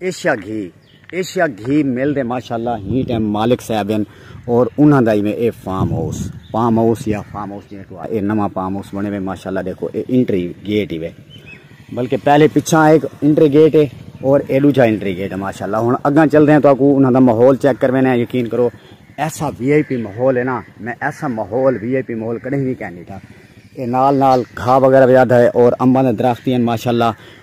Asia گھی Asia گھی مل دے ماشاءاللہ ہی ٹائم مالک صاحب ہیں اور انہاں دا ایویں اے فارم ہاؤس فارم ہاؤس یا فارم ہاؤس جی تو اے نواں فارم ہاؤس بنے ہوئے ماشاءاللہ دیکھو اے انٹری گیٹ ہی وے بلکہ پہلے پیچھا ایک انٹری گیٹ ہے اور اے دوجا انٹری گیٹ ہے ماشاءاللہ ہن اگاں چل دے ہیں تو اکو انہاں دا ماحول چیک کروینا ہے یقین کرو ایسا وی آئی پی ماحول ہے نا میں ایسا ماحول وی آئی پی ماحول کدے نہیں کہنی تھا اے نال نال گھا وغیرہ وجادا ہے اور امبا دے درخت ہیں ماشاءاللہ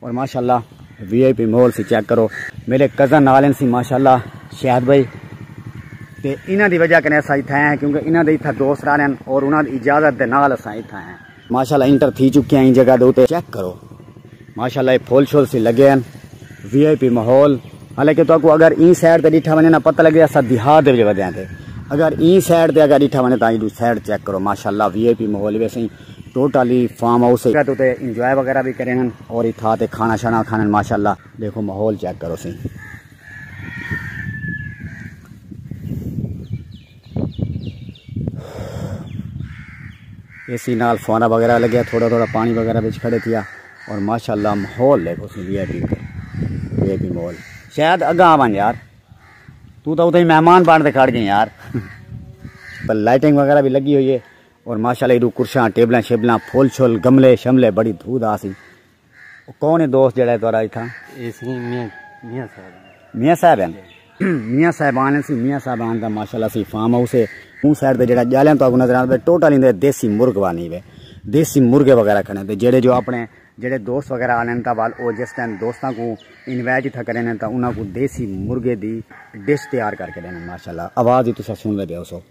اور ماشاءاللہ وی آئی پی مول سی چیک کرو میرے کزن نالن سی ماشاءاللہ شہد بھائی تے انہاں دی وجہ کنے اساں اتھا ہیں کیونکہ انہاں دے اتھا دوست رہ رہن اور انہاں دی اجازت دے نال اساں اتھا ہیں ماشاءاللہ انٹر تھی چکے ہیں جگہ دے تے چیک کرو ماشاءاللہ یہ پھول شول سی لگے ہیں وی آئی پی ماحول حالانکہ تو کو اگر این سائڈ تے ڈٹھا ونے نا پتہ لگے اسا دیہات دے وجہ ودے ہیں اگر این سائڈ تے اگر ڈٹھا ونے تاں ایڈو سائڈ چیک کرو ماشاءاللہ وی آئی پی ماحول ویسے ٹوٹ والی فارم ہاؤس ہے تو تے انجوائے وغیرہ بھی کریں اور اتھا تے کھانا شانا کھانے ماشاءاللہ دیکھو ماحول چیک کرو سی اسی نال فوارا وغیرہ لگیا تھوڑا تھوڑا پانی وغیرہ بچ کھڑے تھیا اور ماشاءاللہ ماحول دیکھو سی V I P V I P ماحول شاید اگاں آون یار تو تو اتھے مہمان بن تے کھڑ گئے یار پر لائٹنگ وغیرہ بھی لگی ہوئی ہے اور ماشاءاللہ ایڈو کرشاں ٹیبلاں شیبلاں پھول چھول گملے شملے بڑی دھو دھا سی او کون ہے دوست جڑا ہے تہاڈا اتھا اے سی میاں میاں صاحب میاں صاحب ہیں میاں صاحب آن سی میاں صاحب آن دا ماشاءاللہ سی فارم ہاؤس ہے اون سائیڈ تے جڑا جالیاں تو اگوں نظر آندا ہے ٹوٹل ایندے دیسی مرغ وانی ہے دیسی مرغے وغیرہ کھنے تے جڑے جو اپنے جڑے دوست وغیرہ آن تا وال او جس ٹائم دوستاں کو انوائٹ تھا کرن تا انہاں کو دیسی مرغے دی ڈش تیار کر کے دینا ماشاءاللہ آواز ہی تسا سن لے بیو سو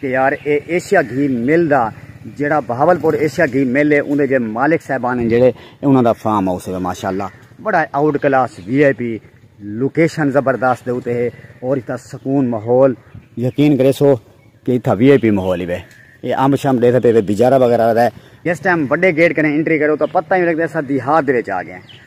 کہ یار اے ایشیا گھی مل دا جیڑا بہاولپور ایشیا گھی مل ہے اوندے جے مالک صاحبان ہیں جیڑے انہاں دا فارم ہاؤس ہے ماشاءاللہ بڑا out class V I P location زبردست دے اوتے ہے اور اتھا سکون ماحول یقین کرے سو کہ اتھا وی آئی پی ماحول ہی وے اے امب شام دے ستے بجارہ وغیرہ دا ہے جس ٹائم بڑے گیٹ کنے انٹری کرو تو پتہ ہی لگدا ہے سا دیہات دے وچ آ گئے ہیں